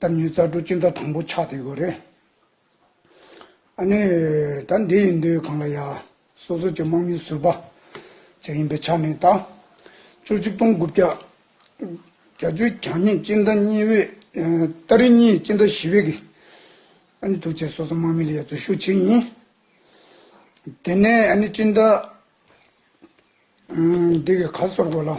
ད་ཉོས་རྩ་སྒྲོ་སྤྱི་ཟླ་དང་པོ་ཆགས་དེ་གོ་རེད། ཨ་ནི། ད་འདི་ཡིན་དུས་གང་ལ་ཡ། སོ་སོ་ཀྱི་དམག་མིའི་ཟུར་པ། ཅིག་ཡིན་པའི་ཆ་ནས་ད། བཅུ་གཅིག་སྟོང་དགུ་བརྒྱ། བརྒྱ་བཅུ་གྱ་གཉིས་སྤྱི་ཟླ་གཉིས་བའི། ཏཱ་རི་གཉིས་སྤྱི་ཟླ་བཞི་བའི་གི། ཨ་ནི་ཐུགས་ཆེ་སོ་སོ་དམག་མི་ལ་ཡ་འཛུལ་ཞུགས་བྱེད་ཡིན། དེ་ནས་ཨ་ནི་སྤྱི་ཟླ། འདི་གི་ག་སོར་གོ་ལ། ཨ།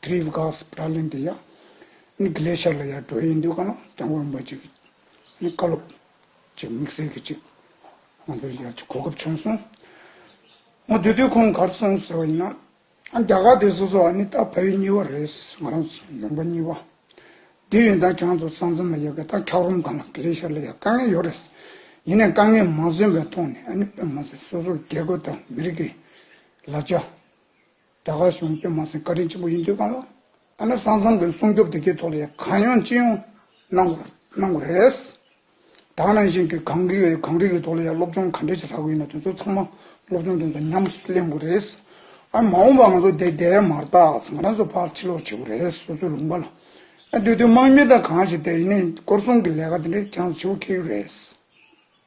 Trif Gas Pralin དེ་ཡང་ནི Glacier ལ་ཡར་འགྲོ་ཡི་འདུག་ག་ན་གྱང་བར་འབབ་ཅིག་ནི་བཀའ་སློབ་ཅིག་དམིགས་བསལ་གྱི་ཅིག་ང་ཚོར་ཡར་ཅིག་གོ་སྐབས་བྱུང་སོང། ང་དུས་དུས་ཁོང་གར་སོང་ཟེར་བ་ཡིན་ན། རྒྱ་གར་དེ་སོ་སོ་ཨ་ནི་ད་བལ་ཡུལ་གཉིས་བ་རེད་ང་རང་ཡོང་པ་གཉིས་བ་དེ་ཡོད་ད་གྱང་ཚོ་ས་མཚམས་ལ་ཡོད་ག་ད་འཁྱག་རོམ་གང་ལ Glacier ལ་ཡར་དཀའ་ངལ་ཡོད་རེད་ཡིན་ནའི་དཀའ་ངལ་མ་བཟོད་པའི་ཐོག་ནས་ཨ་ནི་བལ་མ་ཟེར་སོ་སོ་རྒྱལ་ཁབ་དང་མི་རིགས་ལ་ཅི། རྒྱ་གར་གཞུང་དཔོན་མ་ཟིན་བཀའ་དྲིན་ཆེན་པོ་ཡིན་དུས་གང་ལ་ཨ་ན་སང་བཟང་གི་སྲུང་སྐྱོབ་དེ་གའི་ཐོག་ལ་ཡང་གང་ཡོང་ཅི་ཡོང་གནང་དགོས་རེད། དག་ནང་བཞིན་གྱི་གངས་རི་གངས་རི་གི་ཐོག་ལ་ཡང་སློབ་སྦྱོང་ག་འདྲ་ཞིག་རག་དགོས་ཡིན་ན་དེ་ཚོ་ཚང་མ་སློབ་སྦྱོང་དེ་ཚོ་ཉམས་སུ་ལེན་དགོས་རེད། ཨ་མ་འོངས་པ་ང་ཚོ་དེ་འདྲས་མ་རྟགས་བཟང་རང་ཚོ་ཕར་ཕྱི་ལོག་བྱེད་དགོས་རེད་སོ་སོའི་ལུང་པ་ལ་སྡོད་དུས་དམག་མི་དང་གང་ཞིག་དེ་ཡིན་ནས་སྐོར་སྲུང་གི་ལས་ཀ་དེ་འདྲས་ཅང་ཆེ་བོ་ཁེལ་ཡོད་རེད།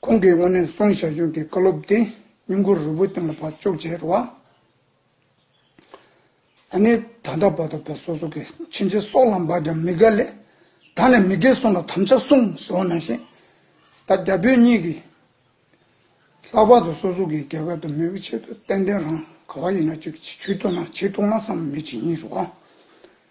ཁོང་གིས་དབོན་ནན་སོང་ཞང་ཞུང་གི་བཀའ་སློབ་དེ་སྙུང་གུ་རུ་བོ་སྟེང་ལ་བག་བཅོག་བྱས་རུ་བ། ད་ནི་ད་ལྟ་བར་དུ་བོད་སོ་སོ་གི་ཕྱིན་ཅི་སོགས་ལ་འབག་ཀྱང་མི་དགའ་ལས། ད་ནི་མི་དགེ་གསུམ་ལ་དམ་བཅའ་གསུམ་ཟེར་བ་ནང་བཞིན། ད་རྒྱ་བོད་གཉིས་ཀྱིས་ལྷག་པར་དུ་སོ་སོ་གི་རྒྱལ་ཁབ་དང་མི་བོའི་ཆེད་དུ་ཏན་ཏན་རང་ག་བ་ཡིན་ན་ཅིག་བྱེད་ཐུབ་ན་བྱེད་ཐུབ་ན་བསམ་མེད་བྱེད་ཉིན་རུ་བ།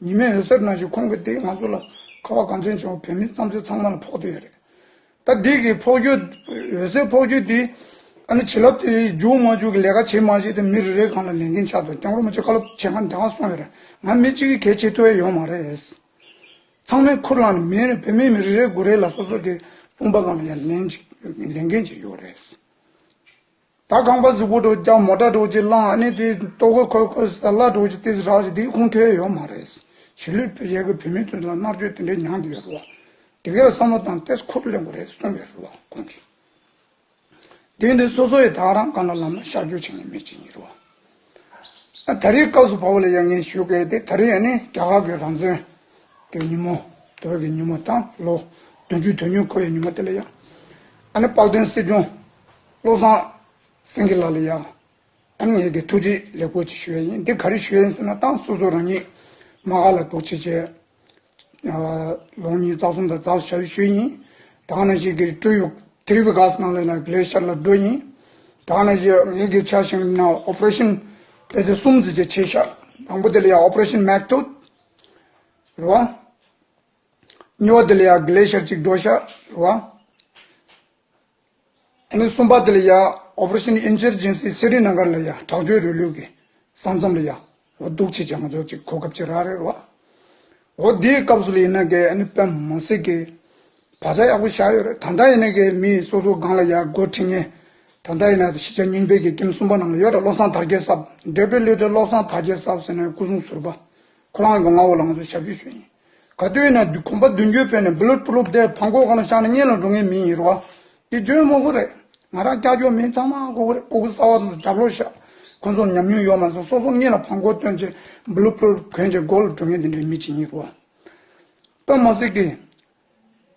ཉི་མས་འོད་ཟེར་ནག་ཞིག་ཁོང་གི་སྟེང་ང་ཚོ་ལ་ཁ་བ་གངས་ཅན་བྱུང་བ་བོད་མི་བརྩམས་ཆོས་ཚང་མ་ལ་ཕོག་དེ་ཡོད་རེད། ད་འདི་གི་ཕོག་རྒྱུ། འོད་ཟེར་ཕོག་རྒྱུ་དེ། ཨ་ནི་བྱིན་རླབས་དེ་འཇུག་མ་འཇུག་གི་ལས་ཀ་བྱེད་མ་བྱེད་དེ་མི་རེ་རེའི་གང་ལ་ལས་འགན་ཆགས་འདུག་རྐྱང་རོ་མ་བྱེད་བཀའ་སློབ་བྱེད་སྒང་འདང་སོང་ཡོད་རེད་ང་མི་གཅིག་གིས་གལ་ཆེ་ཐུ་བས་ཡོང་མ་རེད། ཚང་མས་ཁུར་བླངས་ནས་མིན་རེད་བོད་མི་མི་རེ་རེའི་དགུ་རེ་ལ་སོ་སོ་གི་དཔུང་པ་གང་ལ་ཡང་ལན་གཅིག་ལས་འགན་བྱས་ཡོད་རེད། ད་ཁང་པ་གཟུགས་པོ་དྲོ་རྒྱག་མོ་དྲ་དྲོ་ཅིག་བླངས་ཨ་ནི་དེ་ལྟོ་གོས་ཁོལ་ཁོལ་ཟེར་གླ་དྲོ་ཅིག་ལྟས་རགས་ཞིག་དེའི་ཁུངས་ཐོས་ཡོད་མ་རེད་གཞིས་ལུས་བོད་རྒྱལ་ཁབ་བོད་མི་ཚོས་ལ་མནར་གཅོད་དེ་འདྲའི་མྱངས་ཀྱི་ཡོད་རེད་བ། དེ་གའི་བསམ་བློ་དང་ལྟས་ཁོ་རེ་ལེན་དགོས་རེད་གསུངས་ཡོད་རེད་བ་ཁོང་གིས། དེ་འདི་སོ་སོ་ཡི་དྭགས་རང་ག་ན་ལམ་ན་ཤར་བསྐྱོད་བྱེད་ངེས་མེད་ཅིག་ཡིན་རེད་བ། ཨ་ད་རིའི་སྐབས་སུ་བ་བོ་ལ་ཡ་ངས་ཞུས་སྐད་དེ་ད་རི་ཨ་ནི་རྒྱ་གར་གི་རང་བཙན་གི་ཉིན་མོ་དེ་བོད་ཀྱི་ཉིན་མོ་དང་ལོ་བདུན་ཅུ་དོན་ཉུང་ཁོ་ཡི་ཉིན་མོ་དེ་ལ་ཡ་ཨ་ནི་དཔག་དོན་སྲིད་སྐྱོང། བློ་བཟང་སེང་གེ་ལགས་ལ་ཡང་ཨ་མྱེས་ཀྱི་ཐུགས་རྗེ་ལེགས་པོ་ཅིག་ཞུ་ཡ་ཡིན་འདི་ག་རེ་ཞུ་ཡིན་ཟེར་ན་ཏང་སོ་སོ་རང་ཉིད་མ་ག་ལ་དོག་བྱེད་བྱས། ལོང་གཉིས་རྩ་གསུམ་དང་རྩ་བཞི་ཞབས་ཞུ་ཡིན། དང་ན་ཞིག་གི་སྤྲུལ་བའི་དྲི་བའི་ག་ས་ནང་ལས་ལ་གླེ་ཤར་ལ་འགྲོ་ཡིན། དང་ན་ཞིག་ངེད་ཀྱི་ཆ་ཞིང་ན operation པེ་ཚེ་གསུམ་ཚུད་ཅིག་བྱས་ཤག་དང་པོ་དེ་ལ་ཡང operation མེག་ཏོ་རུ་བ། གཉིས་བ་དེ་ལ་ཡང་གླེ་ཤར་ཅིག་འགྲོ་ཤག་རུ་བ། ཐེངས་གསུམ་པ་དེ་ལ་ཡང Operation Insurgency གསེར་རི་ནང་སྒར་ལ་ཡང་དྲག་སྤྱོད་རུས་ལུགས་ཀྱི་ས་མཚམས་ལ་ཡང་འོ་སྡུག་ཆེ་ཆང་ཟོ་ཅིག་གོ་སྐབས་ཅི་རག་རེད་བ། འོ་དེའི་སྐབས་སུ་ལ་ཡིན་ན་གས་ཨ་ཕ་མ་སྲིད་གས་བ་ཚ་ཡག་པོ་བཞག་ཡོད་རེད་ད་ལྟ་ཡིན་ན་གས་མི་སོ་སོ་སྒང་ལ་ཡང་སྒོ་ཁྲིད་ངས་ད་ལྟ་ཡིན་ན་གཞི་ཆགས་རྙིང་པའི་གས་ཀྱིམ་གསུམ་པ་ནང་ལ་ཡོད་རེད་བློ་བཟང་དར་རྒྱས་སབ་འབྲས་བུ་ལུས་དེ་བློ་བཟང་དར་རྒྱས་སབ་ཟེར་ནས་སྐུ་སྲུང་ཟུར་པ་ཁོ་རང་གས་ང་འོ་ལ་ང་ཚོ་ཞབས་ཞུ་ཞུ་ཡིན། ག་དུས་ན་གོམ་པ་མདུན་སྐྱོད་ཕེབས་ནས་བུ་ལུད་ཕུ་ལུད་དེ་བག་འགོག་ག་ལ་ཤག་ན་གཉེན་ལ་འགྲོ་ངེས་མིན་ཡིན་རུང་བ་དེ་བརྗོད་མོ་གོ་རེད། ང་རང་ཀྱག་ཀྱོག་མིན་ཚང་མ་གོ་གི་རེད་ཀོ་ཀོ་གསར་བ་དང་རྒྱབ་ལོག་ཤག་ཁོང་ཚོར་ཉམས་མྱོང་ཡོད་མ་སོང་སོ་སོ་གཉེན་ལ་བག་འགོག་བཏོན་རྗེས་བུ་ལུད་ཕུ་ལུད་གོན་རྗེས་མགོ་ལ་འགྲོ་ངེས་དེ་འདྲའི་མི་གཅིག་ཡིན་རུང་བ། སྟོན་མོ་སི་ཀི།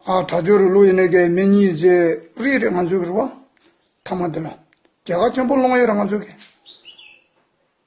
ཨ་གྲྭ་ཇོ་རུ་ལུ་ཡེ་ནེ་ཀའི་མི་གཉིས་རྗེས་རིས་རེད་ང་ཚོའི་རུ་བ། མཐའ་མ་དེ་ལ་རྒྱལ་ཁ་ཆེན་པོ་སློང་ཡས་རེད་ང་ཚོའི་གི།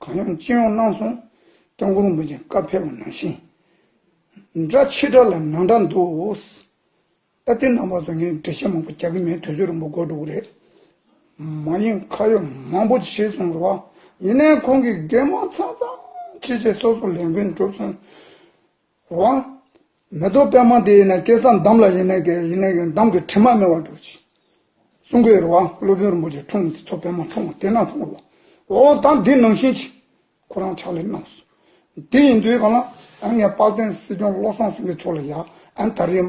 གང་ཡོང་ཅི་ཡོང་གནང་སོང། སྟོན་འཁོར་འབུལ་ཅིང་བཀའ་ཕེབས་པ་ནང་བཞིན། འདྲ་ཕྱི་དགྲ་ལ་ནང་དགྲ་འདུག། ཨ་ཏི་ནང་པ་ཚོ་ངས་འགྲེལ་བཤད་མང་པོ་རྒྱག་གི་མེད་དུས་ཚོད་རིང་པོ་འགོར་འགྲོ་གི་རེད། མ་ཡིན་ཁ་ཡོད་མང་པོ་བྱས་སོང་རེད་བ། ཡིན་ནའི་ཁོང་གིས་རྒན་མང་ཚང་ཚང་ཕྱི་རྗེས་སོ་སོ་ལས་འགུལ་འགྲུབ་སོང། དབང། མེ་ཏོག་པད་མ་དེ་ཡིན་ན་སྐལ་བཟང་འདམ་ལ་ཡེ་ནས་ཀྱི་ཡེ་ནས་ཀྱི་འདམ་གྱི་དྲི་མ་མེད་བར་འགྲོ་ཞིང། གསུང་གི་རོལ་དབང་སློབ་དཔོན་རིན་པོ་ཆེ་འཁྲུངས་ཀྱི་ཚོགས་པད་མ་འཁྲུངས་དེ་རྣམས་འཁྲུངས་ལ། འོག་དང་འདི་ནང་བཞིན་གྱི། ཁོ་རང་ཕྱག་ལས་གནང་སོང། དེ་ཡིན་དུས་གང་ལ། ཨན་ངས་དཔག་ཚན་སྲིད་སྐྱོང་བློ་བཟང་སེང་གེ་མཆོག་ལ་ཡང་ཨན་ད་རེས།